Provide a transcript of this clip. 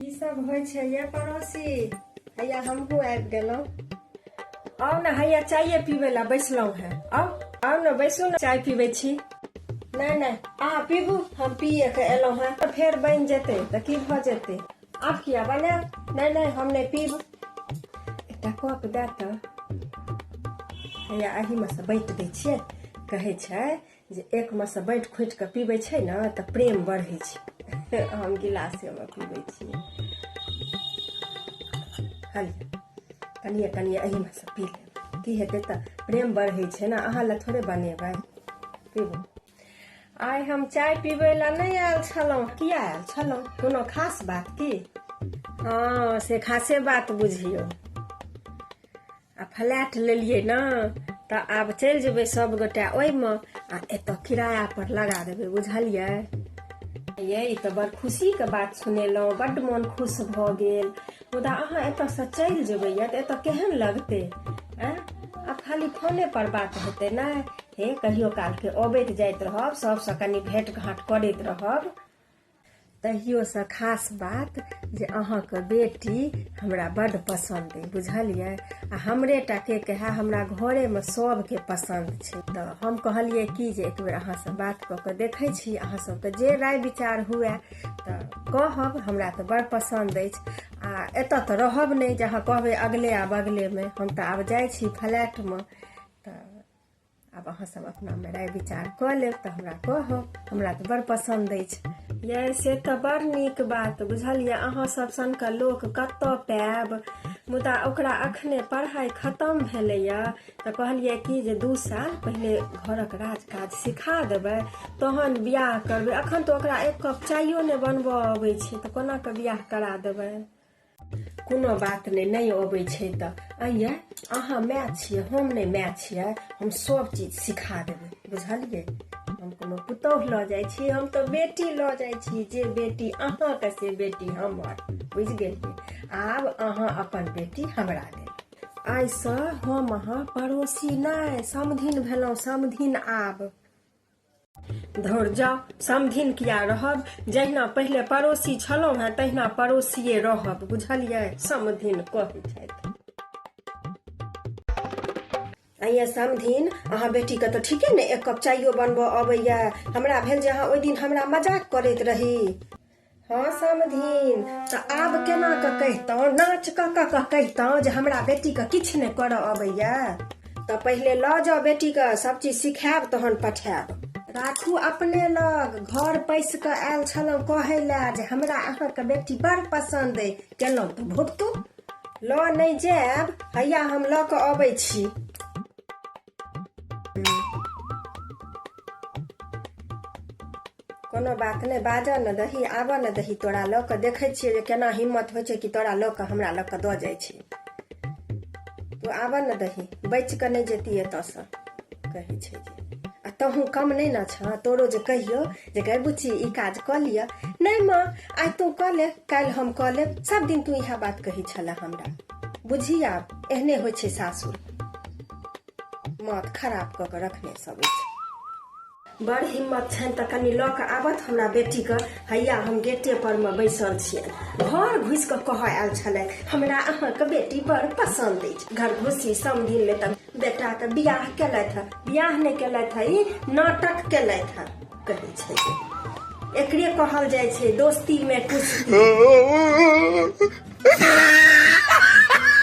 की सब होइ छै ये पड़ोसी हैया हमहूँ आबि गेलहुँ आउ ने हैया चाये पीबै लए बैसलहुँ हेँ आउ आउ ने बैसू ने चाय पीबै छी नहि नहि अहाँ पीबू हम पिए के एलहुँ हेँ तऽ फेर बनि जेतै तऽ की भऽ जेतै आब किया बनायब नहि नहि हम नहि पीब एकटा कप दए तऽ हैया एहिमे सँ बाँटि दै छियै कहै छै जे एक मे से बैठ खोटि कऽ पीबै छै ने तऽ प्रेम बढ़ै छै हम गिलासेमे पीबै छियै कनिए कनिए एहिमे से पी लेब की हेतै तऽ प्रेम बढ़ै छै ने अहाँ लए थोड़े बनेबै पीबू आइ हम चाय पीबै लए नहि आयल छलहुँ किया आयल छलहुँ कोनो खास बात की हँ से खासे बात बुझियौ आ फ्लैट लेलियै ने तऽ आब चलि जेबै सभगोटा ओहिमे आ एतऽ किराया पर लगा देबै बुझलियै ये ई तऽ बड़ खुशीके बात सुनेलहुँ बड्ड मोन खुश भऽ गेल मुदा अहाँ एतऽसँ चलि जेबै यऽ तऽ एतऽ केहन लगतै आँ आ खाली फोने पर बात हेतै ने हे कहियो कालके अबैत जाइत रहब सभसँ कनि भेँट घाँट करैत रहब तहियोसँ खास बात जे अहाँके बेटी हमरा बड्ड पसन्द अइ बुझलियै आ हमरे टा के कहै हमरा घरेमे सभके पसन्द छै तऽ हम कहलियै कि जे एक बेर अहाँसँ बात कऽ कऽ देखै छी अहाँ सभके जे राय विचार हुए तऽ कहब हमरा तऽ बड़ पसन्द अछि आ एतऽ तऽ रहब नहि जे अहाँ कहबै अगले आ बगलेमे हम तऽ आब जाइ छी फ्लैटमे तऽ आब अहाँ सब अपना में राय विचार क लेब तो हमरा कहब हमरा तो बड़ पसंद अछि ये से तो बड़ नीक बात बुझलिए अहाँ सब सन के लोक कत पायब मुदा ओकरा अखने पढ़ाई खत्म भेलैए तो कहलिए कि जे दू साल पहले घर के राज काज सिखा देबै तहन बियाह करबै अखन तो ओकरा एक कप चायो ने बनबऽ अबै छै तऽ कोना कऽ बियाह करा देबै कोनो बात नहि नहि अबै छै तऽ अइए अहाँ माय छियै हम नहि माय छियै हम सब चीज सिखा देबै बुझलियै हम कोनो पुतोह लऽ जाइ छी हम तऽ बेटी लऽ जाइ छी जे बेटी अहाँके से बेटी हमर बुझि गेलियै आब अहाँ अपन बेटी हमरा देब आइसँ हम अहाँ पड़ोसी नहि समधिन भेलहुँ समधिन आब धौर जाउ समधिन किया रहब जहिना पहिले पड़ोसी छलहुँ हेँ तहिना पड़ोसिए रहब बुझलियै समधिन कहै छथि आइए समधिन अहाँ बेटीके तऽ ठीके ने एक कप चाइयो बनबऽ अबैया हमरा भेल जे अहाँ ओहि दिन हमरा मजाक करैत रही हँ समधीन तऽ आब केना कऽ कहितहुँ नाच कऽ कऽ कऽ कहितहुँ जे हमरा बेटीके किछु नहि करऽ अबैया तऽ पहिले लऽ जाउ बेटीके सब चीज सिखायब तहन पठायब राखू अपने लग घर पैस कऽ आयल छलहुँ कहै लए जे हमरा अहाँके बेटी बड़ पसन्द अइ केलहुँ तऽ भुगतू लऽ नहि जायब हैया हम लऽ कऽ अबै छी कोनो बात नहि बाजऽ ने दही आबऽ ने दही तोरा लऽ कऽ देखै छियै जे केना हिम्मत होइ छै कि तोरा लऽ कऽ हमरा लऽ कऽ दऽ जाइ छी तू आबऽ ने दही बचि कऽ नहि जेती एतऽसँ कहै छै जे आ तहूँ कम नहि ने छह तोरो जे कहियो जे गै बुच्ची ई काज कऽ लिअ नहि माँ आइ तू कऽ ले काल्हि हम कऽ लेब सभ दिन तू इएह बात कहै छलह हमरा बुझी आब एहने होइ छै सासुर माथ खराब कऽ के रखने सब अछि बड़ हिम्मत छनि तऽ कनि लऽ कऽ आबत हमरा बेटीके हैया हम गेटे पर मे बैसल छियनि घर घुसि कऽ कहऽ आयल छलै हमरा अहाँके बेटी बड़ पसन्द अछि घर घुसी समधिन मे तऽ बेटाके बियाह केलथि हँ बियाह नहि केलथि हँ ई नाटक केलथि हँ कहै छै एकरे कहल जाइ छै दोस्ती मे कुछ